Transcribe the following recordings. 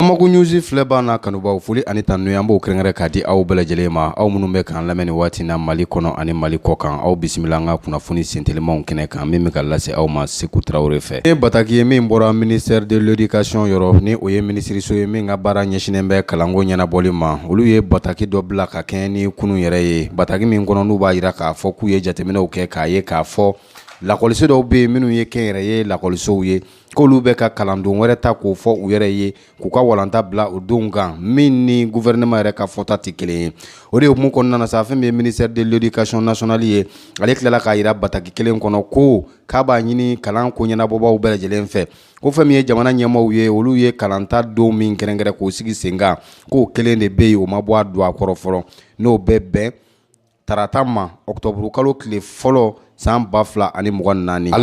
Bamako News filɛbaa n'a kanubaw foli ani tanu an b'o kɛrɛnkɛrɛn k'a di aw bɛɛ lajɛlen ma aw minnu bɛ k'an lamɛn nin waati na mali kɔnɔ ani mali kɔ kan aw bisimila an ka kunnafoni sentelimanw kɛnɛ kan min bɛ ka lase aw ma seku tarawele fɛ nin ye bataki ye min bɔra ministère de l'éducation yɔrɔ ni o ye minisiriso ye min ka baara ɲɛsinnen bɛ kalanko ɲɛnabɔli ma olu ye bataki dɔ bila ka kɛɲɛ ni kunun yɛrɛ ye bataki min kɔnɔ n'u b'a jira k'a fɔ k'u ye jateminɛw kɛ k'a ye k'a fɔ lakɔliso dɔw bɛ yen minnu ye kɛnyɛrɛye lakɔlisow ye k'olu bɛ ka kalandon wɛrɛ ta k'o fɔ u yɛrɛ ye k'u ka kalanta bila o donw kan min ni guvɛrɛnɛma yɛrɛ ka fɔta tɛ kelen ye o de hukumu kɔnɔna na sa fɛn min ye ministère de l'éducation nationale ye ale tilala k'a jira bataki kelen kɔnɔ ko k'a b'a ɲini kalan ko ɲɛnabɔbaaw bɛɛ lajɛlen fɛ ko fɛn min ye jamana ɲɛmaaw ye olu ye kalanta don min kɛrɛnkɛrɛn k'o sigi sen kan k'o kelen de bɛ yen o ma bɔ a dɔgɔ kɔrɔ fɔlɔ n'o bɛ bɛn Tarata ma octobre kalo tile fɔlɔ san 2024 hali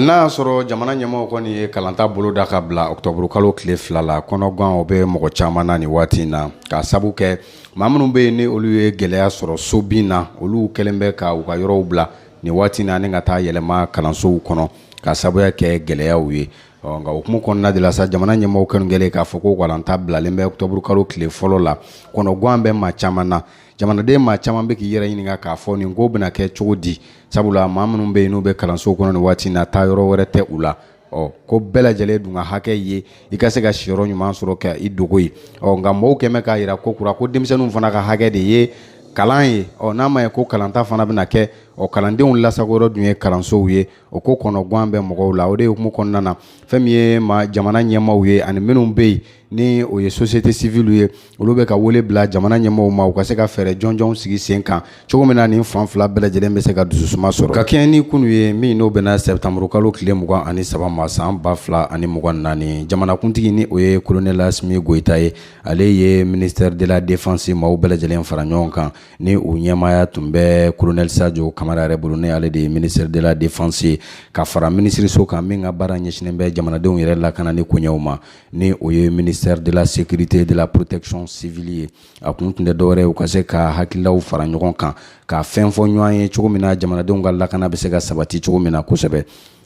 n'a y'a sɔrɔ jamana ɲɛmaaw kɔni ye kalanta boloda ka bila octobre kalo tile fila la kɔnɔgan o bɛ mɔgɔ caman na nin waati in na k'a sabu kɛ maa minnu bɛ yen ni olu ye gɛlɛya sɔrɔ so bin na olu kɛlen bɛ ka u ka yɔrɔw bila nin waati in na ani ka taa yɛlɛma kalansow kɔnɔ k'a sabuya kɛ gɛlɛyaw ye ɔ nka hukumu kɔnɔna de la sa jamana ɲɛmaaw kɛlen kɛlen k'a fɔ ko kalanta bilalen bɛ octobre kalo tile fɔlɔ la kɔnɔgan bɛ maa caman na jamanaden maa caman bɛ k'i yɛrɛ ɲininka k'a fɔ nin ko bɛna kɛ cogo di sabula maa minnu bɛ yen n'u bɛ kalanso kɔnɔ nin waati na taa yɔrɔ wɛrɛ tɛ u la ɔ ko bɛɛ lajɛlen dun ka hakɛ ye i ka se ka siyɔrɔ ɲuman sɔrɔ ka i dogo yen ɔ nka mɔgɔw kɛlen bɛ k'a jira kokura ko denmisɛnninw fana ka hakɛ de ye kalan ye ɔ n'a ma ye ko kalanta fana bɛna kɛ ɔ kalandenw lasagon yɔrɔ dun ye kalansow ye o ko kɔnɔgan bɛ mɔgɔw la o de hukumu kɔnɔna na fɛn min ye jamana ɲɛmaaw ye ani minnu bɛ yen ni o ye société civile ye olu bɛ ka wele bila jamana ɲɛmaaw ma u ka se ka fɛɛrɛ jɔnjɔnw sigi sen kan cogo min na nin fan fila bɛɛ lajɛlen bɛ se ka dususuma sɔrɔ ka kɛɲɛ ni kunun ye min n'o bɛnna sɛtanburu kalo tile mugan ani saba ma san ba fila ani mugan naani jamanakuntigi ni o ye kolonɛl asimi goyita ye ale ye ministère de la défense maaw bɛɛ lajɛlen fara ɲɔgɔn kan ni o ɲɛmaaya tun bɛ kolonɛl sajo kamara yɛrɛ bolo ni ale de ye ministère de la défense ye ka fara minisiriso kan min ka baara ɲɛsinnen bɛ jamanadenw yɛrɛ lakanani koɲɛw ma ni o ye ministère de la sécurité de la protection civile ye a kun tun tɛ dɔwɛrɛ u ka se ka hakililaw fara ɲɔgɔn kan ka fɛn fɔ ɲɔgɔn ye cogo min na jamanadenw ka lakana bɛ se ka sabati cogo min na kosɛbɛ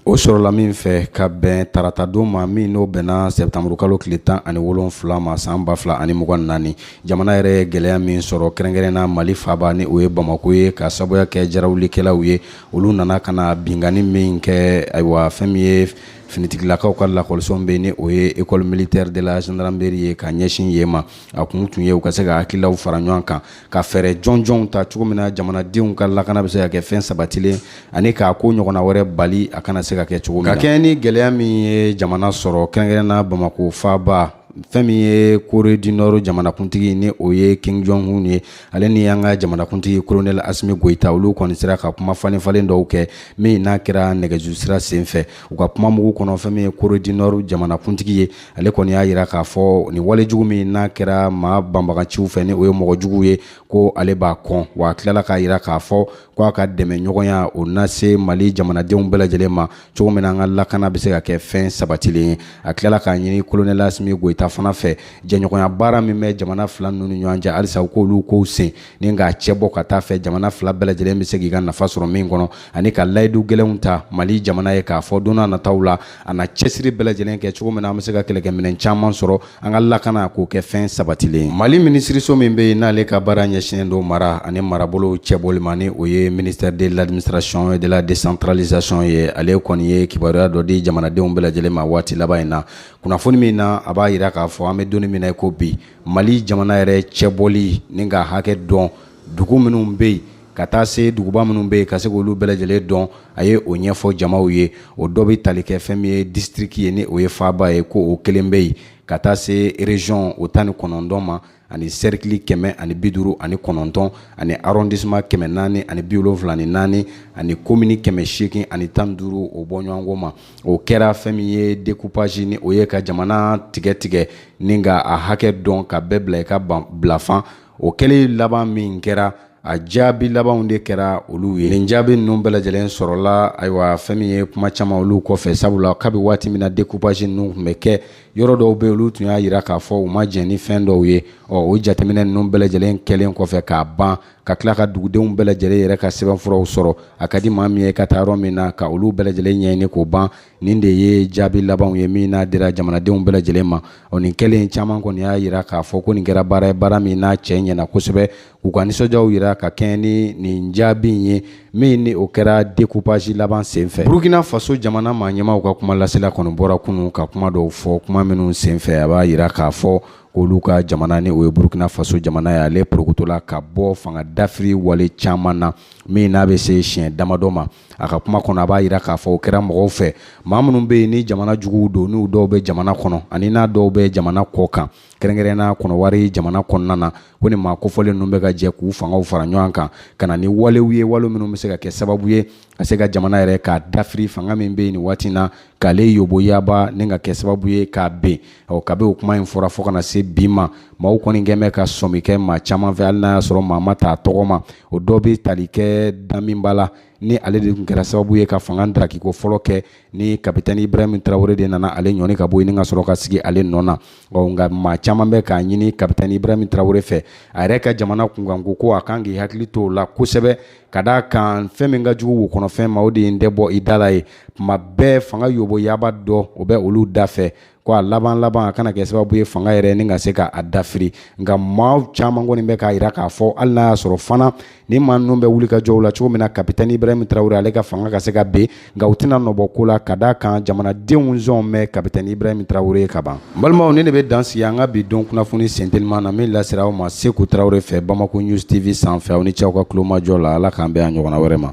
o sɔrɔla min fɛ ka bɛn taratadon ma min n'o bɛnna sɛtanburukalo tile tan ani wolonfila ma san ba fila ani mugan naani jamana yɛrɛ ye gɛlɛya min sɔrɔ kɛrɛnkɛrɛnna mali faaba ni o ye bamako ye k'a sabuya kɛ jarawulikɛlaw ye olu nana ka na binkanni min kɛ ayiwa fɛn min ye finitigilakaw ka lakɔliso bɛ ni o ye école militaire de la gendarmerie ye ka ɲɛsin yen ma a kun tun ye u ka se ka hakililaw fara ɲɔgɔn kan ka fɛɛrɛ jɔnjɔnw ta cogo min na jamanadenw ka lakana bɛ se ka kɛ fɛn sabatilen ani k'a ko ɲɔgɔnna wɛrɛ bali a kana se ka kɛ cogo min na ka kɛɲɛ ni gɛlɛya min ye jamana sɔrɔ kɛrɛnkɛrɛnna bamako faaba fɛn min ye corée du nord jamanakuntigi ni o ye kim jong un ye ale ni an ka jamanakuntigi kolonɛli asimi goyita olu kɔni sera ka kuma falenfalen dɔw kɛ min n'a kɛra nɛgɛjuru sira sen fɛ u ka kuma mugu kɔnɔ fɛn min ye kore di nɔri jamanakuntigi ye ale kɔni y'a yira k'a fɔ nin wale jugu min n'a kɛra maa banbagaciw fɛ ni o ye mɔgɔ juguw ye ko ale b'a kɔn wa a tilala k'a yira k'a fɔ ko a ka dɛmɛɲɔgɔnya o na se mali jamanadenw bɛɛ lajɛlen ma cogo min na an ka lakana bɛ se ka kɛ fɛn sabatilen ye a tilala k'a ɲini kolonɛli asimi goyita fana fɛ jɛɲɔgɔnya baara min bɛ jamana fila ninnu ni ɲɔgɔn cɛ halisa u k'olu kow sen ni k'a cɛ bɔ ka taa fɛ jamana fila bɛɛ lajɛlen bɛ se k'i ka nafa sɔrɔ min kɔnɔ ani ka layidu gɛlɛnw ta mali jamana ye k'a fɔ don n'a nataw la a na cɛsiri bɛɛ lajɛlen kɛ cogo min na an bɛ se ka kɛlɛkɛminɛn caman sɔrɔ an ka lakana k'o kɛ fɛn sabatilen mali minisiriso min bɛ yen n'ale ka baara ɲɛsinnen don mara ani marabolow cɛbɔli ma ni o ye ministère de l'administration et de la décentralisation ye ale kɔni ye kibaruya dɔ di jamanadenw bɛɛ lajɛlen ma waati laban in na kunnafoni min na a b'a yira k'a fɔ an bɛ donni min na i ko bi mali jamana yɛrɛ cɛbɔli ni k'a hakɛ dɔn dugu minnu bɛ yen ka taa se duguba minnu bɛ yen ka se k'olu bɛɛ lajɛlen dɔn a ye o ɲɛfɔ jamaw ye o dɔ bɛ tali kɛ fɛn min ye disitiriki ye ni o ye faaba ye ko o kelen bɛ yen ka taa se rezɔn o tan ni kɔnɔntɔn ma ani serikili kɛmɛ ani bi duuru ani kɔnɔntɔn ani arrondissement kɛmɛ naani ani bi wolonfila ni naani ani komini kɛmɛ seegin ani tan ni duuru o bɔɲɔgɔnko ma o kɛra fɛn min ye découpage ni o ye ka jamana tigɛtigɛ ni ka a hakɛ dɔn ka bɛɛ bila i ka bilafan o kɛlen laban min kɛra a jaabi labanw de kɛra olu ye nin jaabi ninnu bɛɛ lajɛlen sɔrɔla ayiwa fɛn min ye kuma caman olu kɔfɛ sabula kabi waati min na dekupasi ninnu tun bɛ kɛ yɔrɔ dɔw bɛ olu tun y'a yira k'a fɔ u ma jɛn ni fɛn dɔw ye ɔ o jateminɛ ninnu bɛɛ lajɛlen kɛlen kɔfɛ k'a ban ka tila ka dugudenw bɛɛ lajɛlen yɛrɛ ka sɛbɛnfuraw sɔrɔ a ka di maa min ye ka taa yɔrɔ min na ka olu bɛɛ lajɛlen ɲɛɲini k'o ban nin de ye jaabi labanw ye min n'a dira jamanadenw bɛɛ lajɛlen ma o nin kɛlen caman kɔni y'a yira k'a fɔ ko nin kɛra baara ye baara min n'a cɛ ɲɛna kosɛbɛ k'u ka nisɔndiyaw yira ka kɛɲɛ ni nin jaabi in ye min ni o kɛra dekupasi laban senfɛ burukina faso jamana maa ɲɛmaw ka kuma lasela kɔni bɔra kunun ka kuma dɔw fɔ kuma minnu senfɛ a b'a yira k'a fɔ k'olu ka jamana ni o ye burukina faso jamana ye ale porokotola ka bɔ fanga dafiri wale caman na min n'a bɛ se siɲɛ damadɔ ma a ka kuma kɔnɔ a b'a jira k'a fɔ o kɛra mɔgɔw fɛ maa minnu bɛ yen ni jamana juguw don n'u dɔw bɛ jamana kɔnɔ ani n'a dɔw bɛ jamana kɔkan kɛrɛnkɛrɛnnenya kɔnɔwari jamana kɔnɔna na ko nin maa kofɔlen ninnu bɛ ka jɛ k'u fangaw fara ɲɔgɔn kan ka na ni walew ye wale minnu bɛ se ka kɛ sababu ye ka se ka jamana yɛrɛ k'a dafiri fanga min bɛ yen nin waati na k'ale yoboyaba ni ka kɛ sababu ye k'a ben ɔ kabi o kuma in fɔra fɔ ka na se bi ma maaw kɔni kɛlen bɛ ka sɔmi kɛ maa caman fɛ hali n'a y'a sɔrɔ maa ma t'a tɔgɔ ma o dɔ bɛ tali kɛ damiba la ni ale de tun kɛra sababu ye ka fanga darakiko fɔlɔ kɛ ni kapitɛni ibrahim tarawele de nana ale ɲɔni ka bɔ yen ni ka sɔrɔ ka sigi ale nɔ na nka maa caman bɛ k'a ɲini kapitɛni ibrahim tarawele fɛ a yɛrɛ ka jamana kunkanko ko a kan k'i hakili to o la kosɛbɛ ka d'a kan fɛn min ka jugu wo kɔnɔfɛn ma o de ye n tɛ bɔ i da la ye tuma bɛɛ fanga yoboyaba dɔ o bɛ olu da fɛ ko a laban laban a kana kɛ sababu ye fanga yɛrɛ ni ka se k'a dafiri nka maa caman kɔni bɛ k'a jira k'a fɔ hali n'a y'a sɔrɔ fana ni maa ninnu bɛ wulikajɔw la cogo min na kapitɛni ibrahim tarawele ale ka fanga ka se ka ben nka u tɛna nɔbɔ ko la ka d'a kan jamanadenw sɔn bɛ kapitɛni ibrahim tarawele ye ka ban n balimaw nin de bɛ dan sigi an ka bi don kunnafoni senteliman na min lasera aw ma seku tarawele fɛ bamako news tv sanfɛ aw ni ce aw ka tulomajɔ la ala k'an bɛn a ɲɔgɔnna wɛrɛ ma